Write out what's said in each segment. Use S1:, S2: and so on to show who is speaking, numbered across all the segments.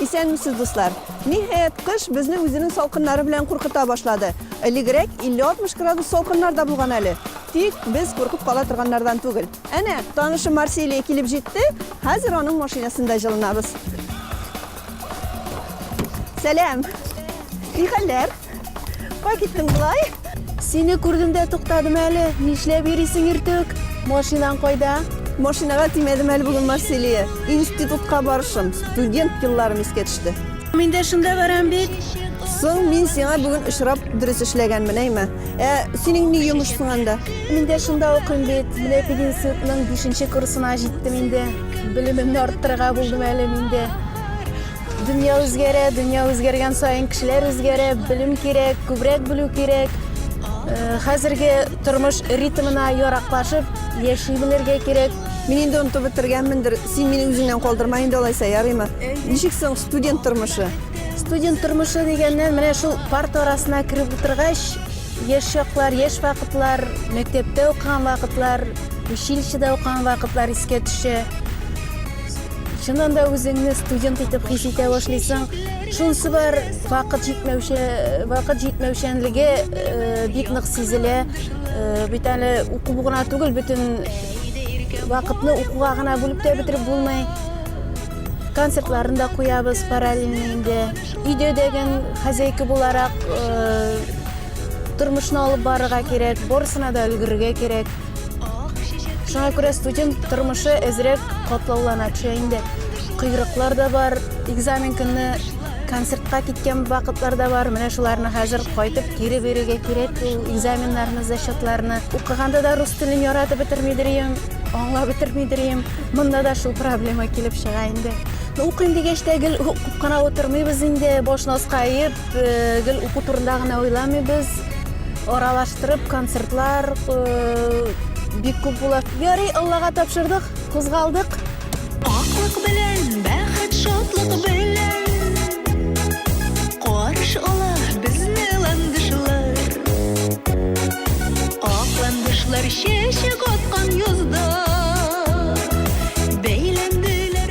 S1: Исәнмесез, дуслар! Ниһаять, кыш безне үзенең салкыннары белән куркыта башлады. Элегрәк 50-60 градус салкыннар да булган әле. Тик без куркып кала торганнардан түгел. Әнә, танышы Марсилия килеп җитте, хәзер аның машинасында җылынабыз. Сәлам! Ни хәлләр? Кай киттең болай? Сине күрдем
S2: дә туктадым әле. Нишләп йөрисең иртүк? Машинаң кайда? Машинага тимәдем
S1: әле бүген, Марселия. Институтка барышым, студент елларым искә төште. Мин дә шунда
S2: барам бит. Соң мин
S1: сиңа бүген очрап дөрес эшләгәнмен, әйме? Ә синең ни йомышсың анда? Мин дә шунда
S2: укыйм бит. Менә пединститутның бишенче курсына җиттем инде. Белемемне арттырырга булдым әле мин дә. Дөнья үзгәрә, дөнья үзгәргән саен кешеләр үзгәрә, белем кирәк, күбрәк белү кирәк. Э, хәзерге тормыш ритмына яраклашып яши белергә кирәк. Мин инде онытып
S1: бетергәнмендер. Син мине үзеңнән калдырма инде алайса, ярыймы? Ничек соң студент тормышы? Студент тормышы
S2: дигәннән менә шул парта арасына кереп утыргач, яшь чаклар, яшь вакытлар, мәктәптә укыган вакытлар, училищеда укыган вакытлар искә төшә. Чыннан да үзеңне студент итеп хис итә башлыйсың. Шунсы бар, вакыт җитмәүче, вакыт җитмәүчәнлеге э, бик нык сизелә. Э, бит әле укып гына түгел, бөтен вакытны укуга гына бүлеп тә бетереп булмый. Концертларын да куябыз параллельно инде. Өйдә дәгән хозяйка буларак э, тормышны алып барырга кирәк, барысына да өлгерергә кирәк. Шуңа күрә студент тормышы әзрәк катлаулана төшә инде. Койрыклар да бар, экзамен көнне концертка киткән вакытлар да бар. Менә шуларны хәзер кайтып кире бирергә кирәк ул экзаменнарны, зачетларны. Укыганда да рус телен яратып бетермидер идем, аңлап бетермидер идем. Монда да шул проблема килеп чыга инде. Укыйм дигәч тә гел укып кына утырмыйбыз инде, башны аска иеп, Гел уку турында гына уйламыйбыз. Аралаштырып концертлар бик күп була. Ярый, Аллага тапшырдык, кузгалдык. Аклык
S3: белән, бәхет, шатлык белән. Чәчәк аткан язда бәйләнделәр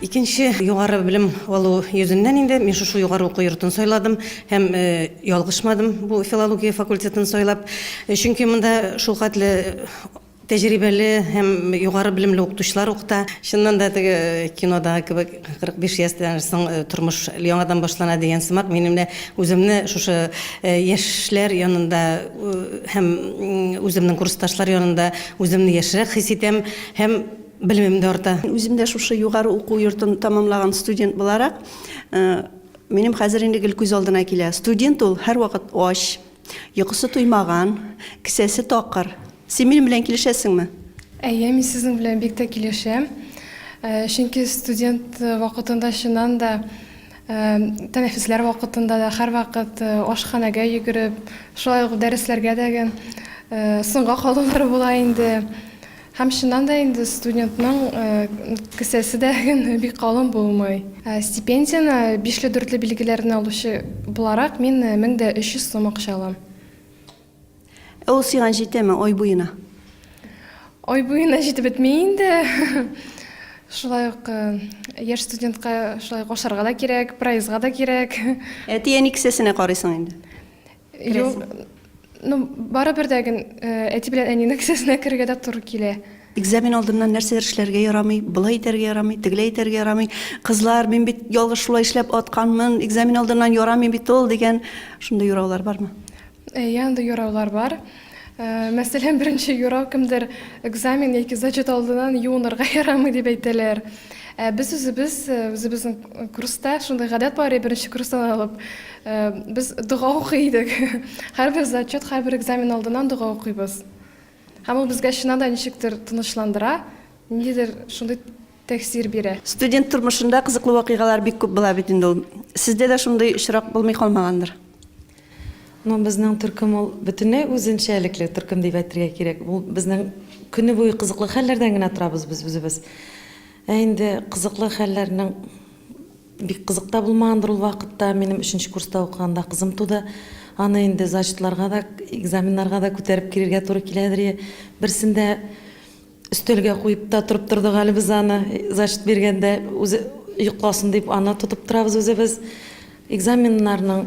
S4: Икенче югары белем алу йөзеннән инде мин шушы югары уку йортын сайладым һәм ялгышмадым бу филология факультетын сайлап. Чөнки монда шулхәтле тәҗрибәле һәм югары белемле укытучылар укыта. Чыннан да теге кинодагы кебек 45 яшьтән соң тормыш яңадан башлана дигән сымак, минем дә үземне шушы яшьләр янында һәм үземнең курсташлар янында үземне яшьрәк хис итәм һәм Белемем дә арта. Үзем дә шушы югары
S1: уку йортын тәмамлаган студент буларак, минем хәзер инде гел күз алдына килә. Студент ул һәрвакыт ач, йокысы туймаган, кесәсе такыр. Син минем белән килешәсеңме? Әйе, мин
S5: сезнең белән бик тә килешәм. Чөнки студент вакытында чыннан да тәнәфесләр вакытында да һәрвакыт ашханәгә йөгереп, шулай ук дәресләргә дә соңга калулар була инде. Һәм чыннан да инде студентның кесәсе дә бик калын булмый. Стипендияне бишле-дүртле билгеләрне алучы буларак, мин 1300 сум акча алам.
S1: Ә ул сиңа җитәме ай буена?
S5: Ай буена җитеп бетми инде. Шулай ук яшь студентка шулай ук ашарга да кирәк, проездга да кирәк. Әти-әни
S1: кесәсенә карыйсың инде. Юк,
S5: ну, бары бер дә ген э, әти белән әнинең кесәсенә керергә дә туры килә. Экзамен алдыннан
S1: нәрсәдер эшләргә ярамый, былай итәргә ярамый, тегеләй итәргә ярамый. Кызлар, мин бит ялгыш шулай эшләп атканмын, экзамен алдыннан ярамый бит ул дигән шундый юраулар бармы? Э, Янда
S5: юраулар бар. Мәсәлән, беренче юрау кемдер экзамен яки зачет алдыннан юынырга ярамый дип әйтәләр. Ә без үзебез, э, үзебезнең курста шундый гадәт бар, беренче курстан алып, э, без дога укый идек. Һәрбер зачет, һәрбер экзамен алдыннан дога укыйбыз. Һәм ул безгә чыннан да ничектер тынычландыра, ниндидер шундый тәэсир бирә. Студент тормышында
S1: кызыклы вакыйгалар бик күп була бит инде ул. Сездә дә шундый очрак булмый калмагандыр?
S4: Ну, безнең төркем ул бөтенләй үзенчәлекле төркем дип әйтергә кирәк. Бу безнең көне буе кызыклы хәлләрдән генә торабыз без үзебез. Ә инде кызыклы хәлләрнең бик кызык та булмагандыр ул вакытта. Минем өченче курста укыганда кызым туды. Аны инде зачетларга да, экзаменнарга да күтәреп керергә туры киләдер. Берсендә Өстәлгә куеп та торып тордык әле без аны, зачет биргәндә, үзе йокласын дип, аны тотып торабыз үзебез. Экзаменнарның.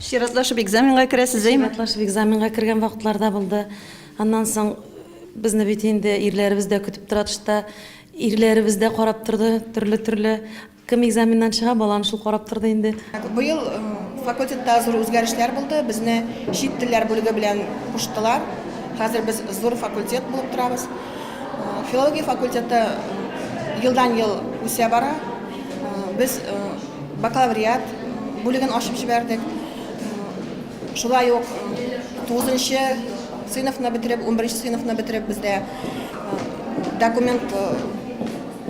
S1: Чиратлашып экзаменга керәсез, әйме? Чиратлашып экзаменга кергән
S4: вакытлар да булды. Аннан соң безне бит инде ирләребез дә көтеп тора тышта. Ирләребез дә карап торды, төрле-төрле Кем экзаменнан чыга, баланы шул карап торды инде. Быел
S6: факультетта зур үзгәрешләр булды, безне чит телләр бүлеге белән куштылар. Хәзер без зур факультет булып торабыз. Филология факультеты елдан-ел үсә бара. Без бакалавриат бүлеген ачып җибәрдек. Шулай ук 9нчы сыйныфны бетереп, 11нче сыйныфны бетереп бездә документ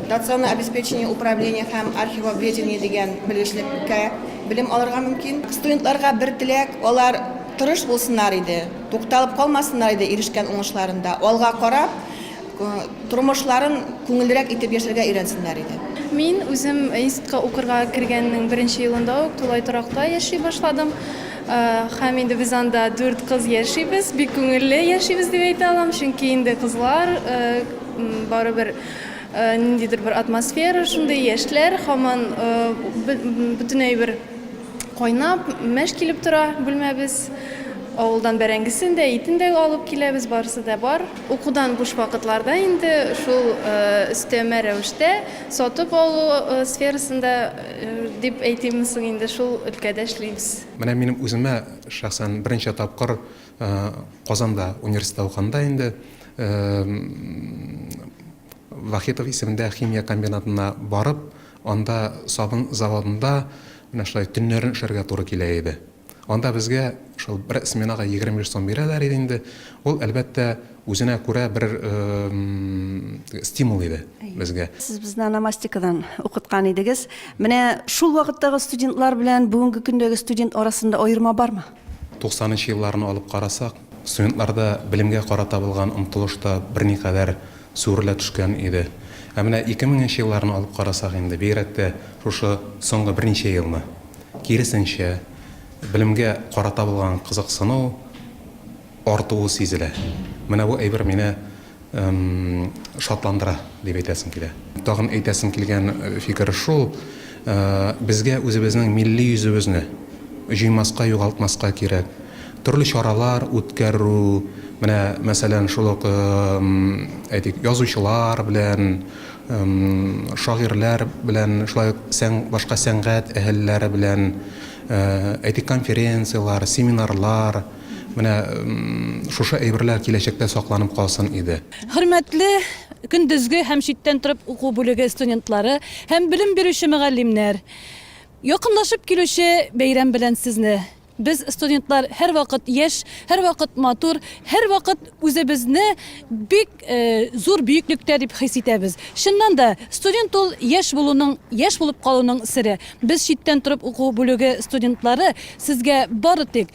S6: Доционное обеспечение управление һәм архивоведение дигән белгечлеккә белем алырга мөмкин. Студентларга бер теләк, алар тырыш булсыннар иде, тукталып калмасыннар иде ирешкән уңышларында, алга карап, тормышларын күңеллерәк итеп яшәргә өйрәнсеннәр иде. Мин үзем
S2: институтка укырга кергәннең беренче елында ук тулай торакта яши башладым. Һәм инде без анда дүрт кыз яшибез, бик күңелле яшибез дип әйтә алам, чөнки инде кызлар барыбер Ниндидер бер атмосфера шундый, яшьләр һаман бөтенләй бер кайнап, мәш килеп тора бүлмәбез. Авылдан бәрәңгесен дә, итен дә алып киләбез, барысы да бар. Укудан буш вакытларда инде шул өстәмә рәвештә сатып алу сферасында дип әйтимме соң инде, шул өлкәдә эшлибез. Менә минем үземә
S7: шәхсән беренче тапкыр Казанда университетта укганда инде Вахитов исемендә химия комбинатына барып, анда сабын заводында менә шулай төннәрен эшләргә туры килә иде. Анда безгә шул бер сменага 25 сум бирәләр иде инде. Ул, әлбәттә, үзенә күрә бер стимул иде безгә. Сез безне ономастикадан
S1: укыткан идегез. Менә шул вакыттагы студентлар белән бүгенге көндәге студент арасында аерма бармы? Туксанынчы
S7: елларны алып карасак, студентларда белемгә карата булган омтылыш та берникадәр сүрелә төшкән иде. Ә менә ике меңенче елларны алып карасак инде, бигрәк тә шушы соңгы берничә елны, киресенчә, белемгә карата булган кызыксыну, артуы сизелә. Менә бу әйбер мине шатландыра, дип әйтәсем килә. Тагын әйтәсем килгән фикер шул, безгә үзебезнең милли йөзебезне җуймаска, югалтмаска кирәк. Төрле чаралар үткәрү, менә, мәсәлән, шул ук, әйтик, язучылар белән, шагыйрьләр белән, шулай ук башка сәнгать әһелләре белән, әйтик, конференцияләр, семинарлар, Менә шушы әйберләр киләчәктә сакланып калсын иде. Хөрмәтле
S8: көндезге һәм читтән торып уку бүлеге студентлары һәм белем бирүче мөгаллимнәр! Якынлашып килүче бәйрәм белән сезне! Без, студентлар, һәрвакыт яшь, һәрвакыт матур, һәрвакыт үзебезне бик зур бөеклектә дип хис итәбез. Чыннан да, студент ул яшь булуның, яшь булып калуның сере. Без, читтән торып уку бүлеге студентлары, сезгә бары тик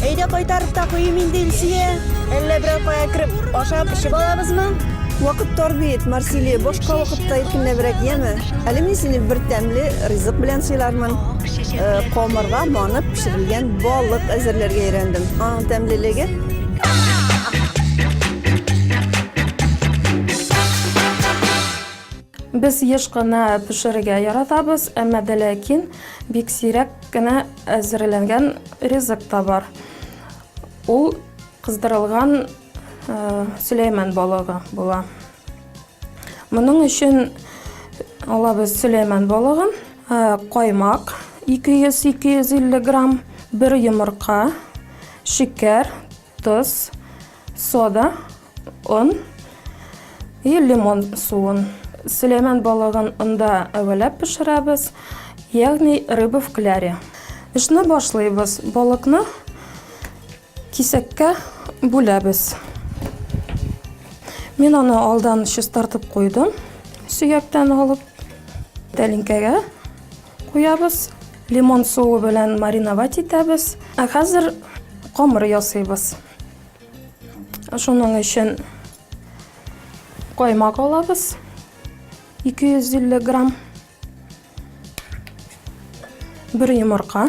S1: Әйдә кайтарып та куйыйм инде, Илсөя. Әллә берәр кая кереп, ашап, эчеп алабызмы? Вакыт тар бит, Марсилия, башка вакытта иркенләбрәк, яме? Әле мин сине бер тәмле ризык белән сыйлармын. Э, Камырга манып пешерелгән балык әзерләргә өйрәндем. Аның тәмлелеге
S5: Без еш кына пешерергә яратабыз, әмма дә ләкин бик сирәк кенә әзерләнгән ризык та бар. Ул кыздырылган сөләйман балыгы була. Моның өчен алабыз сөләйман балыгын, каймак, 200-250 грамм, бер йомырка, шикәр, Тоз,
S9: сода, он и лимон суын. Сөләйман балыгын онда әвәләп пешерәбез, ягъни рыба в кляре. Эшне башлыйбыз. Балыкны кисәккә бүләбез. Мин аны алдан чистартып куйдым, сөяктән алып, тәлинкәгә Куябыз. Лимон суы белән мариновать итәбез. Ә хәзер камыр ясыйбыз. Шуның өчен каймак алабыз. 250 грамм. Бер йомырка.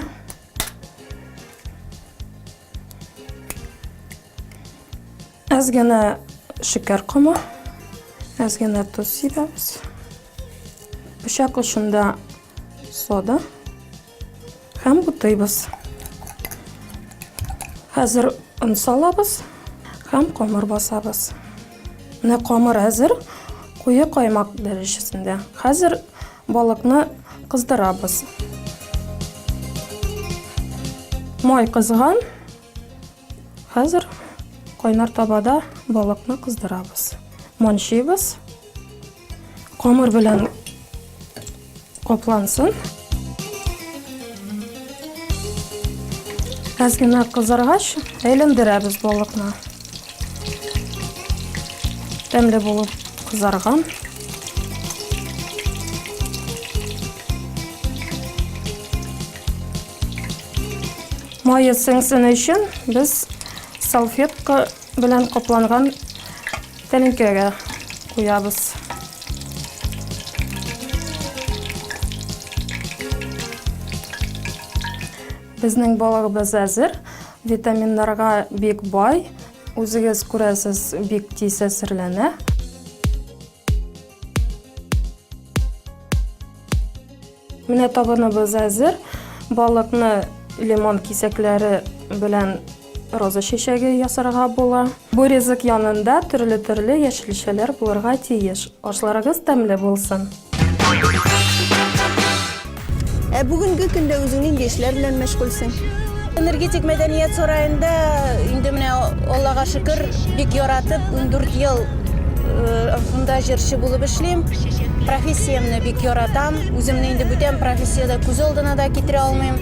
S9: Әз генә шикәр комы, әз генә тоз сибәбез. Пычак очында сода һәм бутыйбыз. Хәзер он салабыз һәм камыр басабыз. Менә камыр әзер, куе каймак дәрәҗәсендә. Хәзер Балыкны кыздырабыз. Май кызган. Хәзер кайнар табада балыкны кыздырабыз. Манчыйбыз. Камыр белән каплансын. Әз генә кызаргач, әйләндерәбез балыкны. Тәмле булып кызарган. Майы сеңсен өчен без салфетка белән капланган тәлинкәгә куябыз. Безнең балыгыбыз әзер, витаминнарга бик бай, үзегез күрәсез, бик тиз әзерләнә. Менә табыныбыз әзер, балыкны лимон кисәкләре белән Роза чәчәге ясарга була. Бу ризык янында төрле-төрле яшелчәләр булырга тиеш. Ашларыгыз тәмле булсын!
S1: Ә бүгенге көндә үзең нинди эшләр белән мәшгульсең? Энергетик
S2: мәдәният сараенда инде менә Аллага шөкер, бик яратып, ундүрт ел шунда җырчы булып эшлим. Профессиямне бик яратам. Үземне инде бүтән профессиядә күз алдына да китерә алмыйм.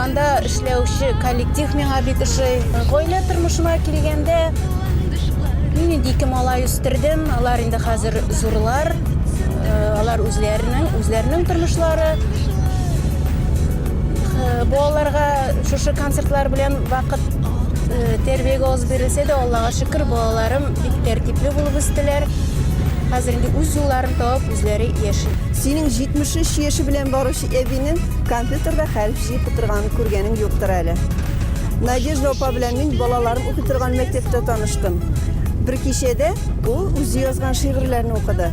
S2: Анда эшләүче коллектив миңа бик ошый. Гаилә тормышына килгәндә, мин инде ике малай үстердем. Алар инде хәзер зурлар. Э, алар үзләренең, үзләренең тормышлары. Э, балаларга шушы концертлар белән вакыт э, тәрбиягә аз бирелсә дә, Аллага шөкер, балаларым бик тәртипле булып үстеләр. Хәзер инде үз юлларын табып, үзләре яши. Синең 73
S1: яше белән баручы әбинең компьютерда хәреф җыеп утырганын күргәнең юктыр әле. Надежда апа белән мин балаларым укый торган мәктәптә таныштым. Бер кичәдә ул үзе язган шигырьләрне укыды.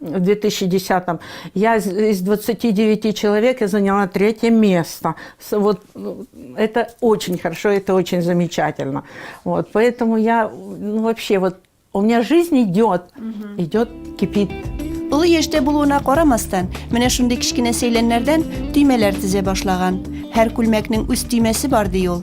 S10: в 2010-м, я из, из 29 человек я заняла третье место. Вот это очень хорошо, это очень замечательно. Вот, поэтому я ну, вообще вот у меня жизнь идет, угу. идет, кипит. Улы
S1: яшьтә булуына карамастан, менә шундый кечкенә сәйләннәрдән төймәләр тезә башлаган. Һәр күлмәкнең үз төймәсе бар ди ул.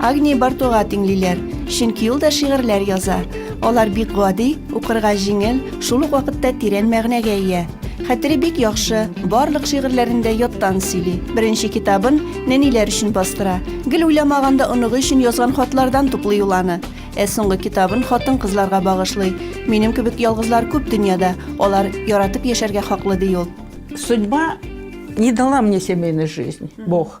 S1: Агния Бартуга тиңлиләр, чөнки ул да шигырьләр яза. Алар бик гади, укырга җиңел, шул ук вакытта тирән мәгънәгә ия. Хәтере бик яхшы, барлык шигырьләрен дә яттан сөйли. Беренче китабын нәниләр өчен бастыра. Гел уйламаганда оныгы өчен язган хатлардан туплый ул аны. Ә соңгы китабын хатын-кызларга багышлый. Минем кебек ялгызлар күп дөньяда, алар яратып яшәргә хаклы, ди ул. Судьба
S10: не дала мне семейной жизни, Бог.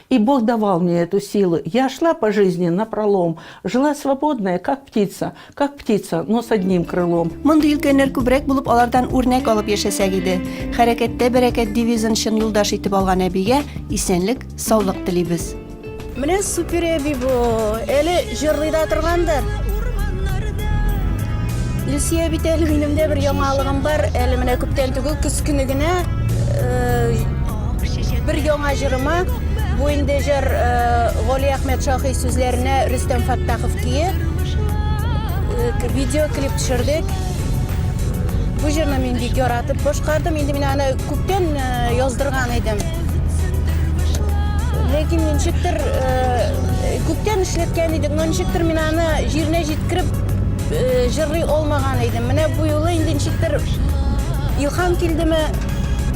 S10: И Бог давал мне эту силу, я шла по жизни напролом, жила свободная, как птица, как птица, но с одним крылом. Мондый өлкәннәр күбрәк
S1: булып, алардан үрнәк алып яшәсәк иде. Хәрәкәттә бәрәкәт девизын чын юлдаш итеп алган әбигә исәнлек, саулык телибез. Менә супер
S2: әби бу. Әле Җырлый да торгандыр. Люсия бит әле минем дә бер яңалыгым бар. Әле менә күптән түгел көз көне генә э, бер яңа җырыма бу инде җыр э, Гали Әхмәт Шахи сүзләренә Рөстәм Фаттахов көе э, видеоклип төшердек. Бу җырны мин бик яратып башкардым. Инде мин аны Күптән яздырган идем. Ләкин ничектер күптән эшләткән идек, но ничектер мин аны җиренә җиткереп җырлый алмаган идем. Менә бу юлы инде ничектер илһам килдеме,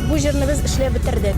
S2: бу җырны без эшләп бетердек.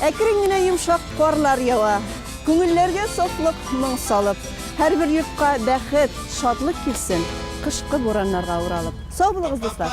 S1: Әкрен генә йомшак карлар ява. Күңелләргә сафлык, моң салып. Һәрбер йортка бәхет, шатлык килсен, кышкы бураннарга уралып. Сау булыгыз, дуслар!